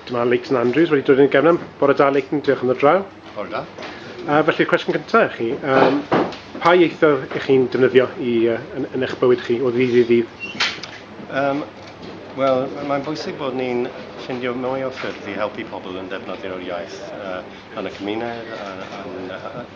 Dyma Leighton Andrews wedi dod i'n gefnam. Bore da Leighton, diolch am y draw. Bore da. Uh, felly, cwestiwn cyntaf i chi. Um, pa ieithoedd ych chi'n defnyddio i, uh, yn, yn eich bywyd chi o ddydd i ddydd? Um, Wel, mae'n bwysig bod ni'n ffindio mwy o ffyrdd i helpu pobl yn ddefnyddio'r iaith uh, yn y cymuned, yn, yn,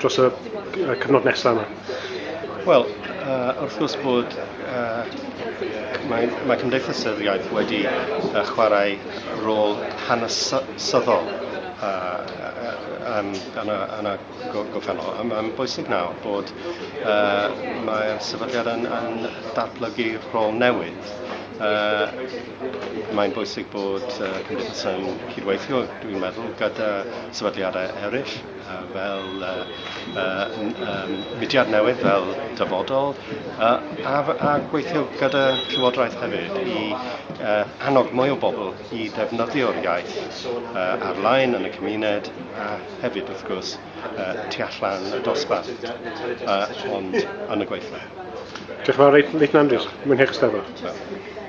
dros y cyfnod nesaf yma? Wel, uh, wrth gwrs bod uh, mae, mae Cymdeithas yr Iaith wedi uh, chwarae rôl hanesyddol uh, uh, yn, yn, yn y gofenol. Mae'n bwysig nawr bod uh, mae'r sefydliad yn, yn datblygu rôl newydd. Uh, mae'n bwysig bod uh, Cymdeithas yn cydweithio, dwi'n meddwl, gyda sefydliadau eraill fel mudiad newydd, fel dyfodol, a gweithio gyda Llywodraeth hefyd i annog mwy o bobl i ddefnyddio'r iaith ar-lein yn y cymuned a hefyd, wrth gwrs, tu allan y dosbarth, ond yn y gweithle. Diolch yn fawr, reit, Nathan Andrews, mwynhewch y Steddfod.